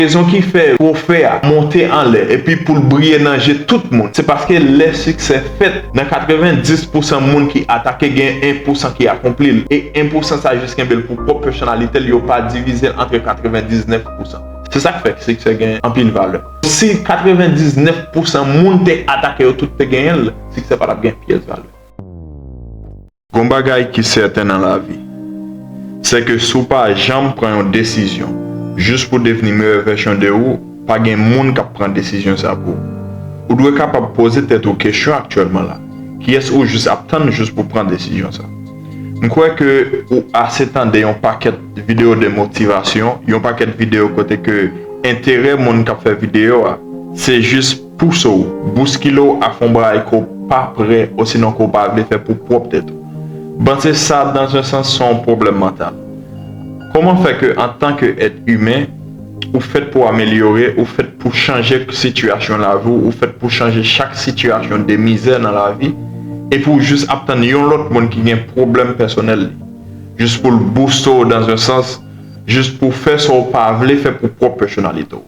Rezon ki fè twofè a monte anlè epi pou l briye nan je tout moun, se paske lè siksè fèt, nan 90 pousan moun ki atake gen 1 pousan ki akonpli l, e 1 pousan sa jis kenbe l pou pwòp pèsonalite l, yo pa divize l antre 99 pousan. Se sa k fè siksè gen anpil valè. Si 99 pousan moun te atake yo tout te genyen l, siksè pa t ap gen pyès valè. Gon bagay ki sèten nan lavi, sè ke si w pa janm pran yon desizyon jis pou devni meyè vèsyon de ou, pa gen moun kap pran desizyon sa pou ou. Ou dwe kapab poze tèt ou kesyon aktyèlman la, kiyès ou jis ap tann jis pou pran desizyon sa? M kwè ke ou ase tande yon pakèt videyo de motivasyon, yon pakèt videyo kote ke enterè moun kap fè videyo a se jis pouse w, bouskile w ak yon bagay ke w pa prè osinon ke w pa vle fè pou pwòp tèt ou. Panse sa dans un sans se yon pwoblèm mantal. Kòman fè ke antan ke èt imen, ou fèt pou amelyore, ou fèt pou chanje sitiyasyon lavi w, ou fèt pou chanje chak sitiyasyon de mizè nan lavi, epi w jis ap tann yon lòt moun ki gen pwoblèm pèsonèl li, jis pou l bouste w dans un sans, jis pou w fè sa w pa vle fè pou pwòp pèsonalite w.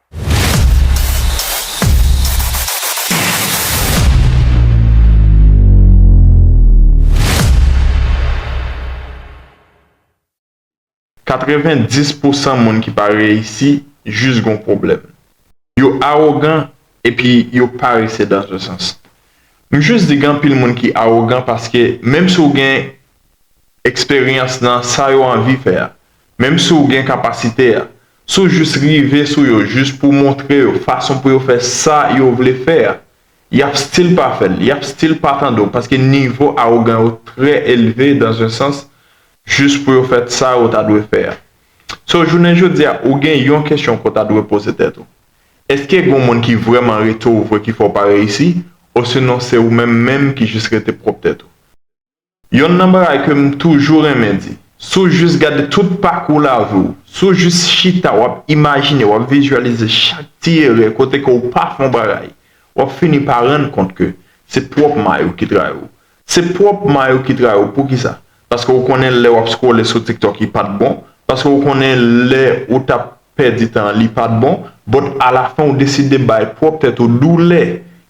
90 pousan moun ki pa reyisi jis gon pwoblèm. Yo awogan epi yo parese dan ze sans. M jis di gen anpil moun ki awogan paske menm si w gen eksperyans nan sa yo anvi fè a, menm si w gen kapasite a, Si w jis rive sou yo jis pou w montre yo fason pou yo fè sa yo vle fè a, y ap stil pa fè l, y ap stil pa tande w paske nivo awogan yo trè elve dans un sans jis pou yo fèt sa yo ta dwe fè a. So jounen jodi a ou gen yon kesyon ke w ta dwe poze tèt ou, Eske gon moun ki vrèman rete w vre ki fè w pa reyisi osinon se ou menm menm ki jis rete pwòp tèt ou? Yonn nan bagay ke m toujou renmen di, si w jis gade tout pakou lavi w, si w jis chita w ap imajine, w ap vizyalize chak ti erè kote ke w pa fè yon bagay, w ap fini pa rann kont ke se pwòp may ou ki trayi w. Se pwòp may ou ki trayi w poukisa? Paske ou konnen lè w ap scrolle sou TikTok li pa t bon, paske ou konnen lè ou t ap. pèdi tan an li pat bon, but a la fen ou deside bay pwòp tèt ou doulè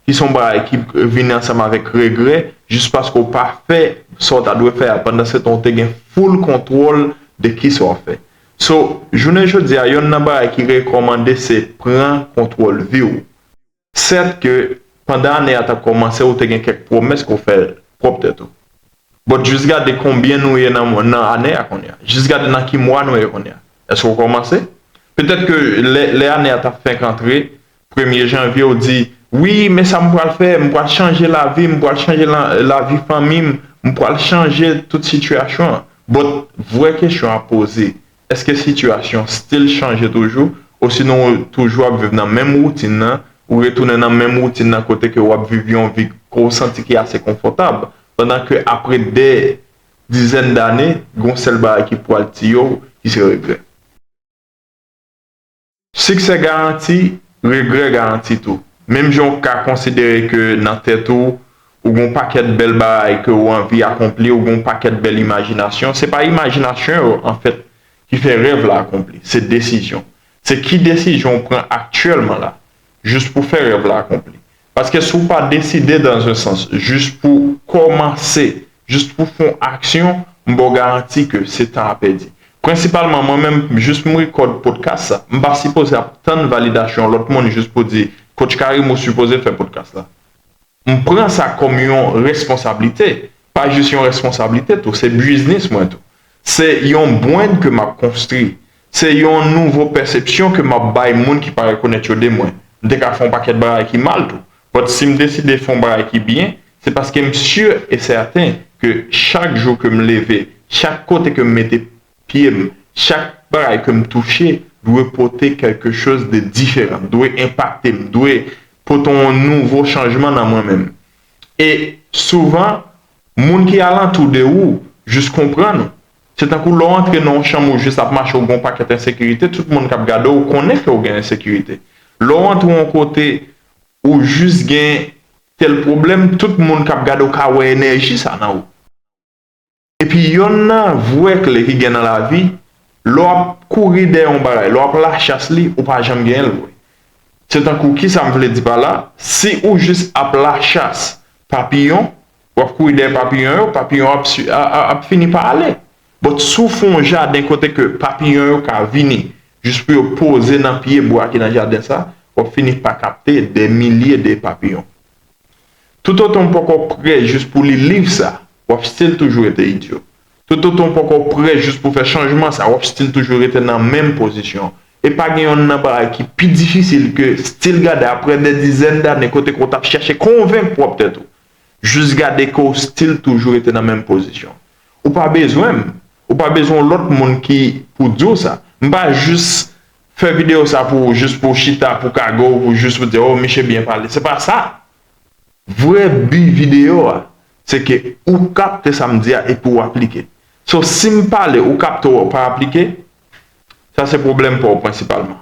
ki son bagay ki vini ansanm avèk regrè jis paske ou pa fè sa ou ta dwe fè a pandan se tan ou te gen full kontwòl de kisa wap fè. So, jounen jodi a yonn nan bagay ki rekòmande se pran kontwòl vi'w. Sèt ke pandan ane a t ap kòmanse ou te gen kèk pwomès ke w fè pwòp tèt ou. But jis gade konbyen nou ye nan ane a kounye a. Jis gade nan ki mwa nou ye kounye a. Èske w kòmanse? Petèt ke lè ane a t ap fenk antre, premye janvye ou di, Wi, men sa m pral fè, m pral chanje lavi m, m pral chanje lavi fanmi m, m pral chanje tout sitiyasyon an. But vrè kesyon a poze, Èske sitiyasyon stil chanje toujou osinon ou toujou ap viv nan menm woutin nan, ou retounen nan menm woutin nan kote ke ou ap viv yon vi ke w santi ki ase konfòtab, pandan ke apre dè dizèn dane, gen yon sèl bagay ki pwal tiye w ki se regrè. Siksè garanti, regrè garanti tou. Menm jan ou ka konsidere ke nan tèt ou, ou gen yon pakèt bèl bagay ke ou anvi akonpli, ou gen yon pakèt bèl imajinasyon, se pa imajinasyon yo, anfèt, ki fè rèv la akonpli, se desizyon. Se ki desizyon ou pran aktyèlman la, jis pou fè rèv la akonpli. Paske si w pa deside dans un sans jis pou w kòmanse, jis pou w fè yon aksyon, m ba w garanti ke se tan a pèdi. Prensipalman mwen menm jis m rekòd podcast sa, m pa sipoze ap tann validasyon yon lòt moun jis pou di Coach Karim ou sipoze fè podcast la. M pran sa kòm yon responsablite, pa jis yon responsablite tou, se biznis mwen tou. Se yon bwenn ke m ap konstri. Se yon nouvo pèsepsyon ke m ap bay moun ki pa rekonèt yo de mwen. M te ka fè yon pakèt bagay ki mal tou. But si m deside fè yon bagay ki byen, se paske m si e sèten ke chak jou ke m leve, chak kote ke m mete pye m, chak bagay ke m touche dwe pote kèlke choz de diferan, dwe enpakte m, dwe pote yon nouvo chanjman nan mwen menm. E souvan, Moun ki alantou de ou jis konprann ou. Se tankou lè w antre nan yon chanm ou jis ap mache ou gen yon pakèt ensekirite, tout moun k ap gade w konnen ke ou gen ensekirite. Lè w antre yon kote ou jis gen tèl pwoblèm, tout moun k ap gade w ka wè enèji sa nan ou. Epi yonn nan vrè kle ki gen nan lavi, lè w ap kouri dèyè yon bagay, lè w ap lachas li, ou pa janm genyen l vre. Se tankou kisa m vle di pa la, si ou jis ap lachas Papiyon, w ap kouri dèyè papiyon yo, papiyon yo ap fini pa ale. But si w fè yon jaden kote ke papiyon yo ka vini jis pou yo poze nan pye bwa ki nan jaden sa, w ap fini pa kapte dè milye de papiyon. Toutotan w poko prè jis pou w li liv sa, w ap still toujou rete idyo. Tototon ou poko prè jis pou fè chanjman sa, wap stil toujou rete nan menm pozisyon. E pa gen yonn nan bagay ki pi difisil ke stil gade aprè dè dizèn dane kote ke w tap chache konvenk pwòp tèt ou, jis gade ke w stil toujou rete nan menm pozisyon. Ou pa bezwen m, ou pa bezwen yon lòt moun ki pou di w sa. M pa jis fè videyo sa pou ou jis pou w chita pou kago ou pou jis ou di oh miche byen pale, se pa sa vrè bi videyo a. Se ke ou kapte sa m di a epi ou aplike. So si m pale ou kapte ou pa aplike, sa se pwoblèm pa w prensipalman.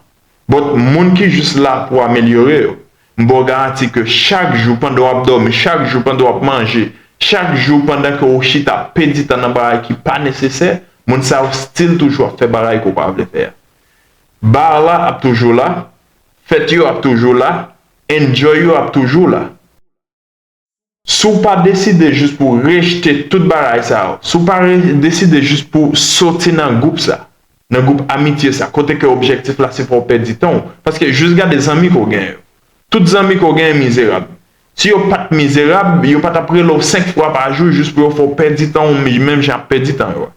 But moun ki jis la pou amelyore yo, m ba w garanti ke chak jou pandan w ap dòmi, chak jou pandan w ap manje, chak jou pandan ke ou chita ap pèdi tan nan bagay ki pa nesesè, moun sa yo still toujou ap fè bagay ke w pa vle fè a. Bar la ap toujou la, fèt yo ap toujou la, enjoy yo ap toujou la. Si w pa deside jis pou rejte tout bagay sa yo, si w pa deside jis pou soti nan gwoup sa, nan gwoup amitye sa, kote ke objektif la se fè w pèdi tan w, paske jis gade zanmi ke w genyen yo. Tout zanmi ke w genyen mizerab. Si yo pa t mizerab, yo pa t ap rele w senk fwa pa jou jis pou yo fè w pèdi tan w menm jan y ap pèdi tan yo a.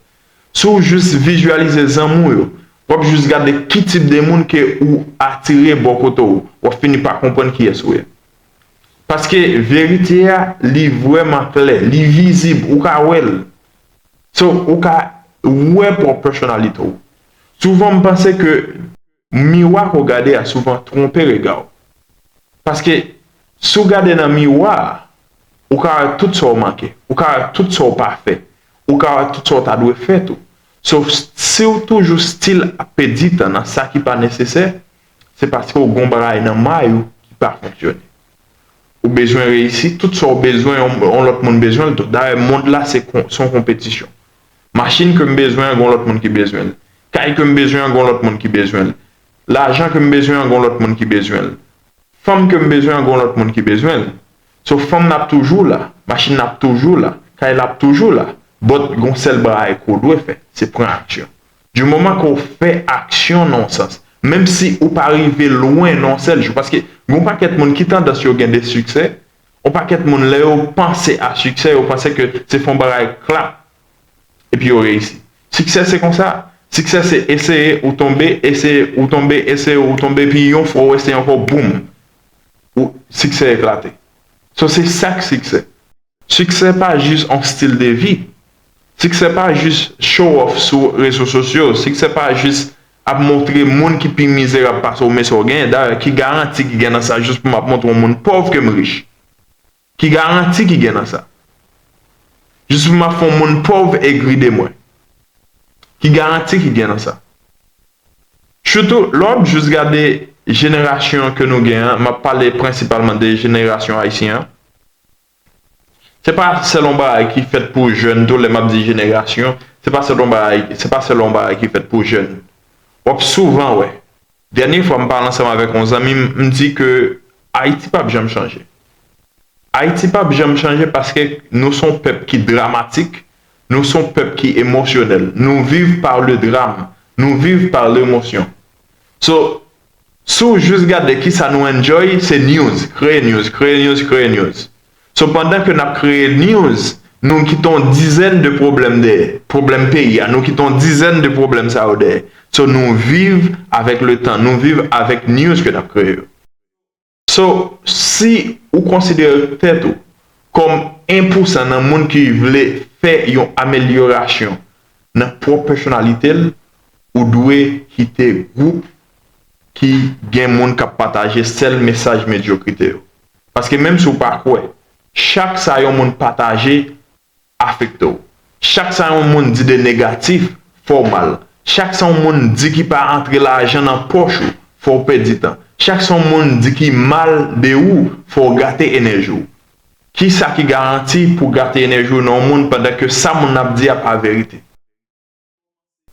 Si w jis vizyalize zanmi w yo, w ap jis gade ki tip de moun ke ou atire bò kote w, w ap fini pa konprann kiyès ou ye. Paske verite a li vrèman klè, li vizib, ou ka wè l. So, ou ka wè pwòp pèsonalite w. Souvan m panse ke miwa ke w gade a souvan twonpe rega w. Paske si w gade nan miwa a, ou ka wè tout sa w manke, ou ka wè tout sa w pa fè, ou ka wè tout sa w ta dwe fè tou. So, si w toujou stil ap pèdi tan nan sa ki pa nesesè, Se paske w gen yon bagay nan may ou ki pa fonksyone. Ou bezwen reyisi, tout sa w bezwen yon lòt moun bezwen l tou. Dayè mond la se yon konpetisyon. Machin ke m bezwen an gen yon lòt moun ki bezwen l. Kay ke m bezwen an gen yon lòt moun ki bezwen l. Lajan ke m bezwen an gen yon lòt moun ki bezwen l. Fanm ke m bezwen an gen yon lòt moun ki bezwen l. So fanm nan ap toujou la, machin nan ap toujou la, kay la ap toujou la, but gen yon sèl bagay ke w dwe fè, se pran aksyon. Du moman ke w fè aksyon nan yon sans, menm si ou pa rive lwen nan yon sèl jou, paske gen yon pakèt moun ki tandans yo gen de siksè, yon pakèt moun lè yo panse a siksè yo panse ke se fè yon bagay klap epi yo reyisi. Siksè se konsa, siksè se eseye ou tonbe, eseye ou tonbe, eseye ou tonbe epi yon fwa ou eseye ankò boom ou siksè eklate. So se sak siksè. Siksè pa jis yon stil de vi. Siksè pa jis show off sou rezo sosyo. Siksè pa jis ap montre moun ki pi mizerab pase w men sa w genyen. Dayè, ki garanti ki gen nan sa jis pou m ap montre yon moun pòv ke m rich? Ki garanti ki gen nan sa? Jis pou m ap fè yon moun pòv egri de mwen? Ki garanti ki gen nan sa? Sitou, lè w ap jis gade jenerasyon ke nou gen an, m ap pale prensipalman de jenerasyon ayisyen an, Se pa sèl yon bagay ki fèt pou jèn tou, lè m ap di jenerasyon, se pa sèl yon bagay, se pa sèl yon bagay ki fèt pou jèn. W ap souvan wè, dènye fwa m pale ansanm avèk yon zanmi m, m di ke Ayiti pa p janm chanje. Ayiti pa p janm chanje paske nou se yon pèp ki dramatik, nou se yon pèp ki emosyonèl. Nou viv par le drame, nou viv par l'emotion. So, Si w jis gade kisa nou enjoy se news, kreye news, kreye news, kreye news. So pandan ke nap kreye news nou kite yon dizèn de pwoblèm dèyè, pwoblèm peyi a, nou kite yon dizèn de pwoblèm sa yo dèyè. So nou viv avèk le tan, nou viv avèk news ke nap kreye yo. So, si ou konsidere tèt ou kòm 1 pousan nan moun ki vle fè yon amelyorasyon nan pwòp pèsonalite l, ou dwe kite gwoup ki gen moun k ap pataje sèl mesaj medyokrite yo. Paske menm si ou pa kwè, chak sa yon moun pataje afekte w. Chak sa yon moun di de negatif, fè w mal. Chak sa yon moun di ki pa antre lajan nan pòch ou, fè w pèdi tan. Chak sa yon moun di ki mal de ou, fè w gate enèji w. Kisa ki garanti pou w gate enèji w nan yon moun pandan ke sa moun nan ap di a pa verite?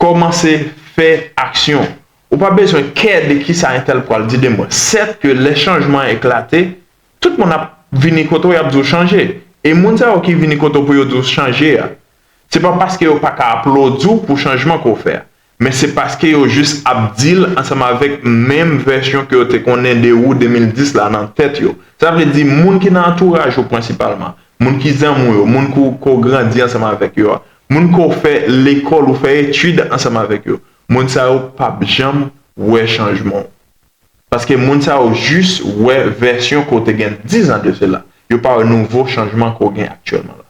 Kòmanse fè aksyon. Ou pa bezwen kè de ki sa entèl pral di de mwen. Sèt ke lè chanjman an eklate, tout moun ap vini kote w y ap di w chanje. E moun sa yo ki vini kote w pou yo di w chanje a, se pa paske yo pa ka aplodi w pou chanjman ke w fè a, men se paske yo jis ap di l ansanm avèk menm vèsyon ke yo te konnen de ou 2010 la nan tèt yo. Sa vle di moun ki nan antouraj ou prensipalman, moun ki zanmi w yo, moun ke w grandi ansanm avèk yo a, Moun ke w fè lekòl, ou fè etid ansanm avèk yo, moun sa yo pa p janm wè chanjman w. Paske moun sa yo jis wè vèsyon ke w te gen dizan de sela. Yo pa wè nouvo chanjman ke w gen aktyèlman la.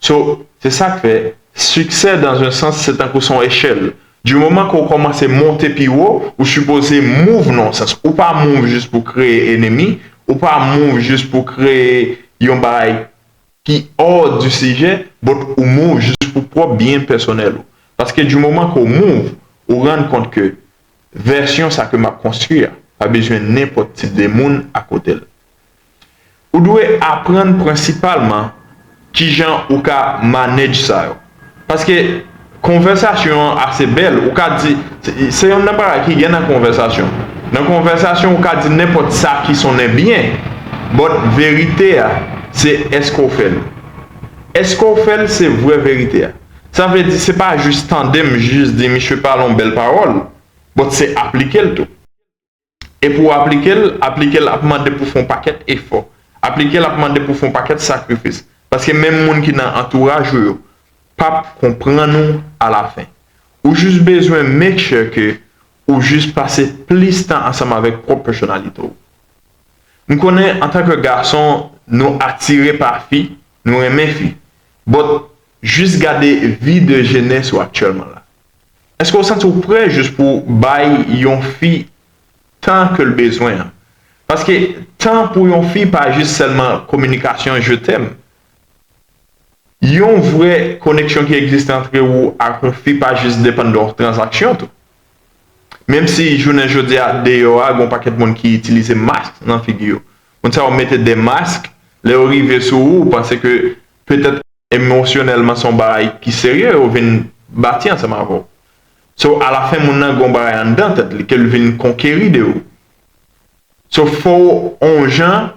So, se sa k fè, siksè dans un sans se tankou se yon echèl. Du moman ke w kòmanse monte pi wo, ou sipoze move nan yon sans. Ou pa move jis pou w kreye enemi, ou pa move jis pou w kreye yon bagay ki hors du sujet but ou move jis pou pwòp byen pèsonèl ou paske du moman ke w move ou rann kont ke vèsyon sa ke m ap konstwi a pa bezwen nenpòt tip de moun akote l ou dwe aprann prensipalman kijan ou ka manage sa yo. Paske konvèsasyon an ase bèl. Ou ka di, se yonn nan bagay ki gen nan konvèsasyon. Nan konvèsasyon ou ka di nenpòt sa ki sonnen byen. But verite a, se èske w fè l. Èske w fè l se vrè verite a. Sa vle di se pa jis tande m jis di misye pale yon bèl pawòl, but se aplike l tou. E pou w aplike l, aplike l ap mande pou w fè yon pakèt efò. Aplike l ap mande pou w fè yon pakèt sakrifis. Paske menm moun ki nan antouraj ou yo pap konprann ou alafen. Ou jis bezwen make sure ke ou jis pase plis tan ansanm avèk pwòp pèsonalite w. M konnen antanke gason nou atire pa fi, nou renmen fi. But jis gade vi de jenès ou aktyèlman la. Eske w santi w prè jis pou w bay yon fi tan ke l bezwen an? Paske tan pou yon fi pa jis sèlman kominikasyon je t'aime. Yon vrè koneksyon ki egziste antre ou ak yon fi pa jis depann de tranzaksyon tou. Menm si jounen jodi a deyò a gen yon pakèt moun ki itilize mask nan figi yo. Moun sa yo mete de mask, lè yo rive sou ou, ou panse ke petèt. emosyonèlman se yon bagay ki serye yo vin bati ansanm avè w. So alafen moun nan gen yon bagay anndan tèt li ke l vin konkeri de ou. So fò w yon jan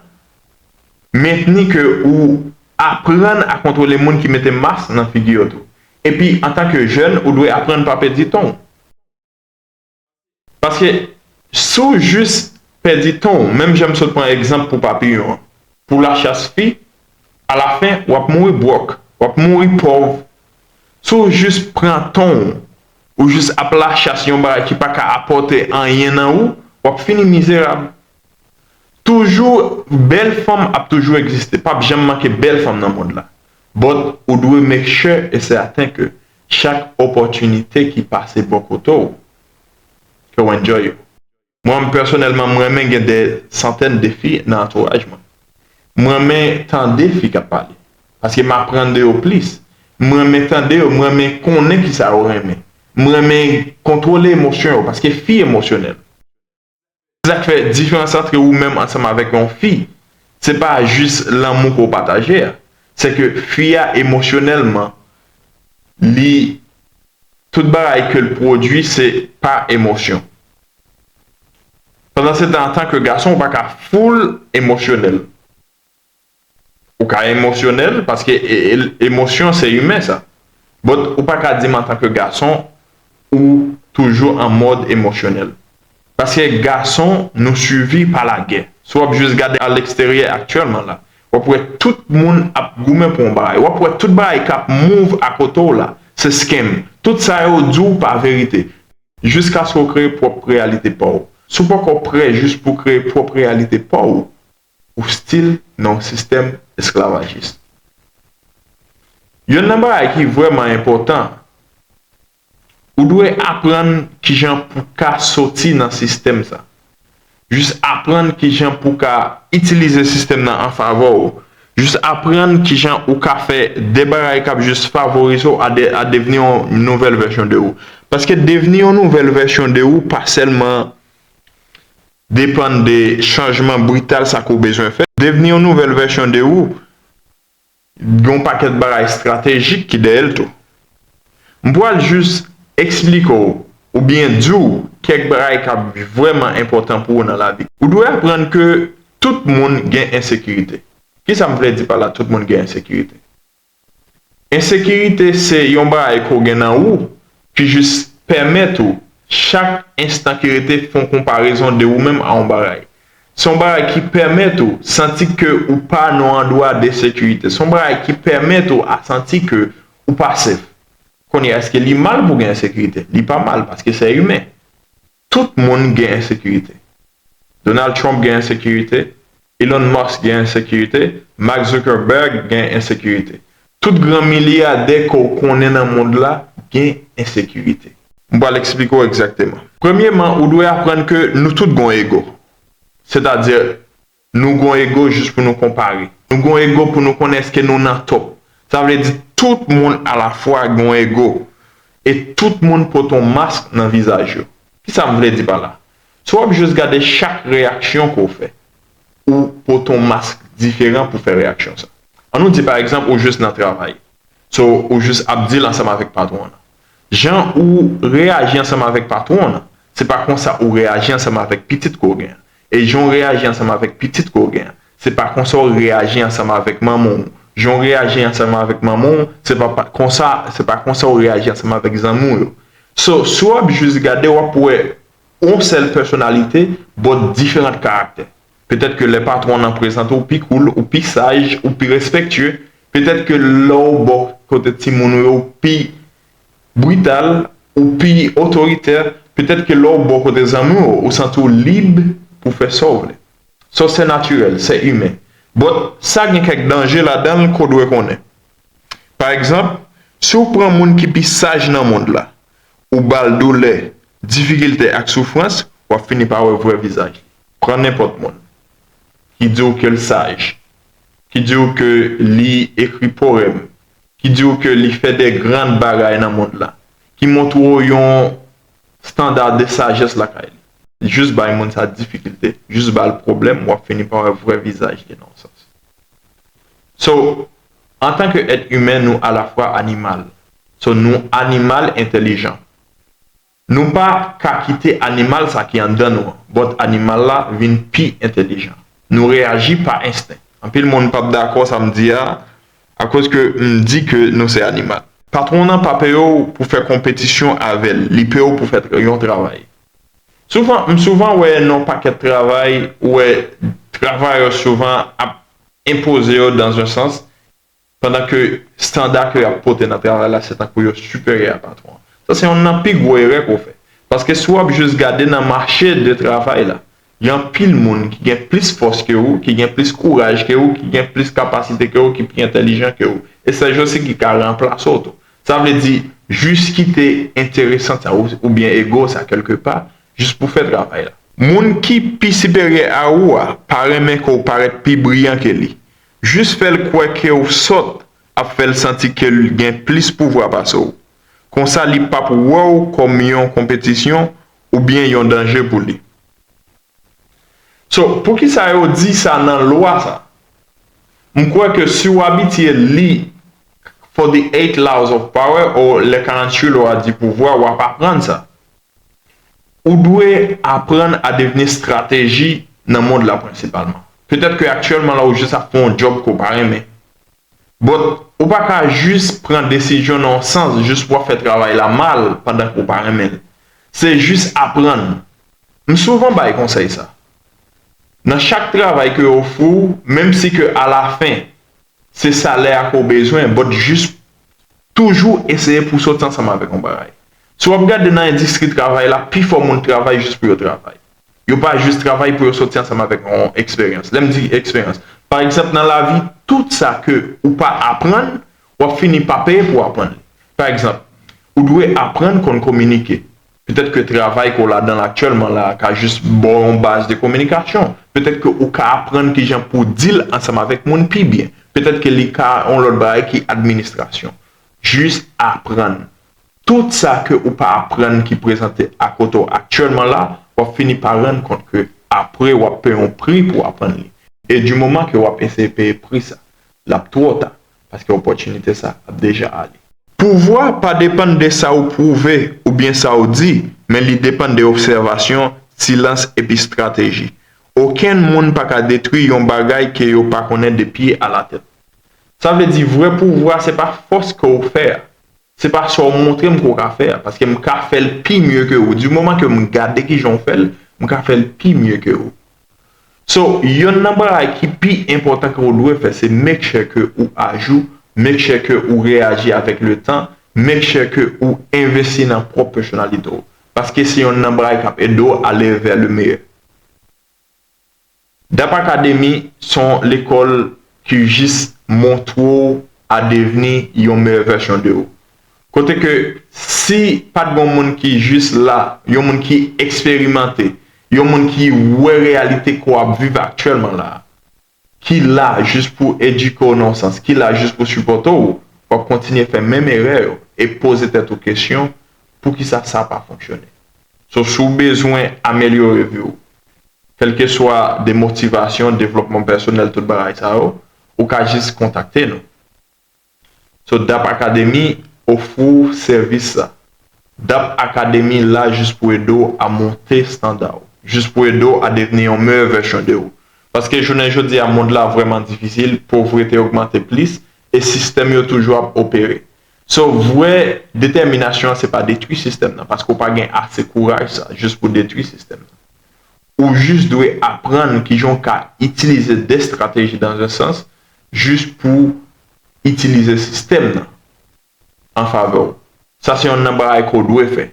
mentni ke ou aprann a kontwole moun ki mete mas nan figi yo tou. Epi antan ke jèn ou dwe aprann pa pèdi ton w. Paske si w jis pèdi tan w, menm jan m sot pran egzanp pou papiyon an, pou lachas fi, alafen w ap mouri bwòk, w ap mouri pòv. Si w jis pran tan w, ou jis ap lachas yon bagay ki pa ka apòte anyen nan ou, w ap fini mizerab. Toujou bèl fanm ap toujou egziste, p ap janm manke bèl fanm nan mond la, but ou dwe make sure et certain ke Chak opòtinite ki pase bò kote w, ke w enjoy yo. Mwen pèsonèlman, m renmen gen dè santèn de fi nan antouraj mwen. M renmen tande fi k ap pale, paske m aprann de yo plis. M renmen tande yo, m renmen konnen kisa yo renmen. M renmen kontwole emosyon yo, paske fi emosyonèl. Se sa k fè diferans antre ou menm ansanm avèk yon fi, se pa jis lanmou ke w pataje a, se ke fi a emosyonèlman, li, tout bagay ke l pwodui se pa emosyon. Pandansetan antan ke gason ou pa ka full emosyonèl. Ou ka emosyonèl paske emosyon se imen sa. But ou pa ka di m antan ke gason ou toujou an mòd emosyonèl. Paske gason nou suivi pa lagè. Si w ap jis gade a leksteryè aktyèlman la, w ap wè tout moun ap goumen pou yon bagay. W ap wè tout bagay k ap move akote w la se scam. Tout sa yo di w pa verite. Jiskaske w kreye pwòp reyalite pa w. Si w poko prè jis pou w kreye pwòp reyalite pa w, ou stil nan yon sistèm esklavajis. Yonn nan bagay ki vrèman enpòtan, ou dwe aprann kijan pou w ka soti nan sistèm sa. Jis aprann kijan pou w ka itilize sistèm nan an favè w. Jis aprann kijan ou ka fè de bagay k ap jis favorize w a devni yon nouvèl vèsyon de ou. Paske devni yon nouvèl vèsyon de ou pa sèlman. Depann de chanjman brital sa ke w bezwen fè. Devni yon nouvèl vèsyon de ou gen yon pakèt bagay estratejik ki dèyè l tou. M pral jis esplike w oubyen di w kèk bagay k ap vrèman enpòtan pou ou nan lavi. Ou dwe aprann ke tout moun gen ensekirite. Kisa m vle di pa la tout moun gen ensekirite? Ensekirite se yon bagay ke w gen nan ou ki jis pèmèt ou chak enstan ki rete fon konparezon de ou menm a yon bagay. Se yon bagay ki pèmèt ou santi ke ou pa nan yon andwa de sekirite. Se yon bagay ki pèmèt ou a santi ke ou pa sef. Kounye a eske li mal pou gen ensekirite? Li pa mal paske se imen. Tout moun gen ensekirite. Donald Trump gen ensekirite, Elon Musk gen ensekirite, Mark Zuckerberg gen ensekirite. Tout gran milyadè ke w konnen nan mond la gen ensekirite. M pral eksplike w egzakteman. Premyeman, ou dwe aprann ke nou tout gen yon ego. Sètadi, Nou gon ego jis pou nou konpare. Nou gon ego pou nou konnen eske nou nan to. Sa vle di tout moun a la fwa gon ego. E tout moun pote yon mask nan vizaj yo. Kisa m vle di pa la? Si w ap jis gade chak reyaksyon ke w fè, ou pote yon mask diferan pou fè reyaksyon sa. An nou di pa egzanp ou jis nan travay. So, ou jis ap deal ansanm avèk patwon w lan. Jan ou reyaji ansanm avèk patwon w lan, se pa konsa ou reyaji ansanm avèk pitit ke w gen an. E jan w reyaji ansanm avèk pitit ke w gen an, se pa konsa w reyaji ansanm avèk manman w. Jan w reyaji ansanm avèk manman w, se pa konsa, se pa konsa w reyaji ansanm avèk zanmi w yo. So, si w ap jis gade, w ap wè yon sèl pèsonalite but diferant karaktè. Petèt ke lè patwon nan prezante w, ou pi cool, ou pi saj, ou pi respectueux. Petèt ke lè w bò kote timoun ou yo, ou pi brital, ou pi otoritè, petèt ke lè w bò kote zanmi w, ou santi w lib pou fè sa w vle. Sa w se natirèl, se imen. But, sa gen kèk danje ladan l ke w dwe konnen. Pa egzanp, si w pran moun ki pi saj nan mond la, ou ba l doulè, difikilte ak soufrans, w ap fini pa wè vrè vizaj li. Pran nenpòt moun ki di w ke l saj, ki di w ke li ekri powèm, ki di w ke li fè de grand bagay nan mond la, ki montre w yon standard de sagesse lakay li, jis bay moun sa difikilte, jis ba l pwoblèm, w ap fini pa wè vrè vizaj li nan yon sans. So, an tan ke èt imen nou alafwa animal. So, nou animal entèlijan. Nou pa ka kite animal sa ki anndan nou an, but animal la vin pi entelijan. Nou reyaji pa ensten. Anpil moun pap dakò sa m di a, akoz ke m di ke nou se animal. Patwon nan pa peye w pou fè konpetisyon avè l, li peye w pou fè yon travay. Souvan, m souvan wè nan yon pakèt travay, ou wè travayè souvan ap enpoze yo dans un sens, Pandan ke standa ke yo ap pote nan travay la se tankou yo siperyè a patwon an. Sa se yonn nan pi gwo erè ke w fè. Paske si w ap jis gade nan mache de travay la, gen anpil moun ki gen plis fòs ke ou, ki gen plis kouraj ke ou, ki gen plis kapasite ke ou, ki pi entelijan ke ou. E sèj yo se ki ka ranplase w tou. Sa vle di, jis kite enteresant sa ou, oubyen ego w sa kèlke pa, jis pou fè travay la. Moun ki pi siperyè a ou a pa renmen ke w parèt pi briyan ke li. Jis fè l kwè ke w sòt ap fè l santi ke l gen plis pouvwa pase w. Konsa li p ap wè w kòm yon konpetisyon oubyen yon danje pou li. So, poukisa yo di sa nan lwa sa? M kwè ke si w abitye li For the Eight Laws of Power, or Les 48 Lois du Pouvoir, w ap aprann sa. Ou dwe aprann a devni strateji nan mond la prensipalman. Petèt ke aktyèlman la ou jis ap fè yon djòb ke w pa renmen. But, ou pa ka jis pran desizyon nan yon sans jis pou w ap fè travay la mal pandan ke w pa renmen l. Se jis aprann. M souvan bay konsèy sa. Nan chak travay ke yo ofri w, menm si ke alafen Se salè a ke w bezwen, but jis toujou eseye pou w soti ansanm avèk yon bagay. Si w ap gade nan endistri travay la, pifò moun travay jis pou yo travay. Yo pa jis travay pou yo soti ansanm avèk yon eksperyans. Lè m di eksperyans, pa egzanp nan lavi, tout sa ke ou pa aprann, w ap fini pa peye pou w aprann li. Pa egzanp, ou dwe aprann konn kominike. Petèt ke travay ke w ladan l aktyèlman la a ka jis ba w yon baz de kominikasyon. Petèt ke ou ka aprann kijan pou w di l ansanm avèk moun pi byen. Petèt ke li ka yon lòt bagay ki administrasyon. Jis aprann. Tout sa ke ou pa aprann ki prezante a kote w aktyèlman la, w ap fini pa rann kont ke apre w ap peye yon pri pou w aprann li. E di moman ke w ap eseye peye pri sa, l ap twò ta. paske opòtinite sa ap deja ale. Pouvwa pa depann de sa ou pwouve oubyen sa ou di, men li depann de obsèvasyon, silans epi strateji. Okenn moun pa ka detwi yon bagay ke yo pa konnen de pye a la tèt. Sa vle di vrè pouvwa se pa fòs ke ou fè a, se pa sa ou montre m ke ou ka fè a, paske m ka fè l pi mye ke ou, di moman ke m gade kijan ou fè l, m ka fè l pi mye ke ou. So yonn nan bagay ki pi enpòtan ke ou dwe fè se make sure ke ou ajou, make sure ke ou reyaji avèk le tan, make sure ke ou envesti nan pwòp pèsonalite ou. Paske se yonn nan bagay kap ede ou ale vè le meyè. Dap Academy se yon lekòl ki jis montre ou a devni yon meyè vèsyon de ou. Kote ke si pat gon moun ki jis la, yon moun ki eksperimante, yon moun ki wè reyalite ke w ap viv aktyèlman la, ki la jis pou edike w nan yon sans, ki la jis pou sipòte w, w ap kontinye fè menm erè yo e poze tèt ou kesyon, poukisa sa pa fonksyone? So, si w bezwen amelyore vi w, kèlkeswa de motivasyon, devlòpman pèsonèl, tout bagay sa yo, ou ka jis kontakte nou. So dap academy ofri w sèvis sa. Dap academy la jis pou ede w a monte standa w. Jis pou ede w a devni yon meyè vèsyon de ou. Paske jounen jodi a mond la vrèman difisil, povrete ogmante plis, e sistèm yo toujou ap opere. So vrè detèminasyon an se pa detwi sistèm nan, paske w pa gen ase kouraj sa jis pou detwi sistèm nan. Ou jis dwe aprann kijan w ka itilize 2 strateji dans un sens, jis pou itilize sistèm nan an favè w. Sa se yonn nan bagay ke w dwe fè.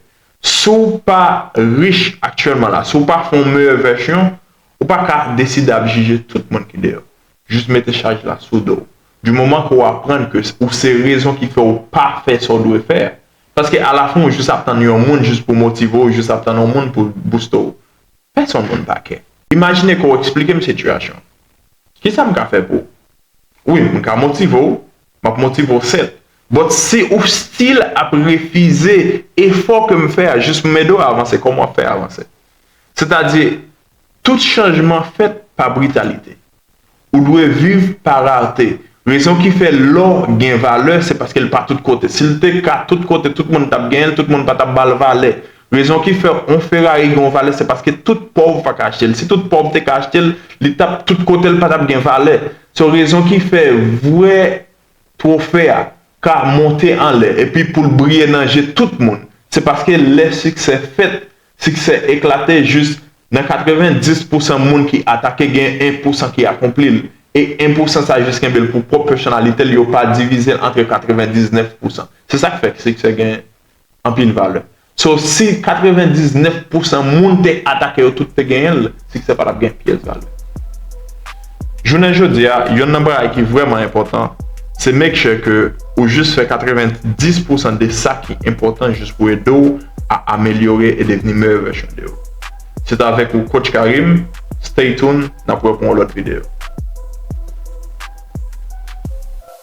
Si w pa rich aktyèlman la, si w pa fè yon meyè vèsyon, ou pa ka deside ap jije tout moun ki deyò. Jis mete chaj la sou do w. Di moman ke w aprann ke ou se rezon ki fè w pa fè sa w dwe fè a. Paske alafen ou jis ap tann yon moun jis pou motive w, ou jis ap tann yon moun pou bouste w. Pèsonn moun pa kè. Imajine ke w eksplike m sitiyasyon an. Kisa m ka fè pou ou? Wi, m ka motive w. M ap motive w sèt. But si ou still ap refize efò ke m fè a jis pou m ede w avanse, kòman w ap fè avanse? Sètadi, tout chanjman fèt pa britalite. Ou dwe viv pa rarte. Rezon ki fè lò gen valè se paske l pa tout kote. Si l te ka tout kote, tout moun t ap genyen l, tout moun pa t ap ba l valè. Rezon ki fè on Ferrari gen on valè se paske tout pòv pa ka achte l. Si tout pòv te ka achte l, li t ap tout kote l pa t ap gen valè. So rezon ki fè vrè twofe a ka monte anlè epi pou l briye nan je tout moun se paske lè siksè fèt, siksè eklate jis nan 90 pousan moun ki atake gen 1 pousan ki akonpli l e 1 pousan sa jis kenbe l pou pwòp pèsonalite l yo pa divize l antre 99 pousan. Se sa k fè siksè gen anpil valè. So si 99 pousan moun te atake yo tout te genyen l, siksè pa t ap gen pyès valè. Jounen jodi a, yonn nan bagay ki vrèman enpòtan, se make sure ke ou jis fè 90 pousan de sa ki enpòtan jis pou ede w a amelyore e devni meyè vèsyon de ou. Se t avèk ou Coach Karim, stay tuned, n ap wè pou yon lòt videyo.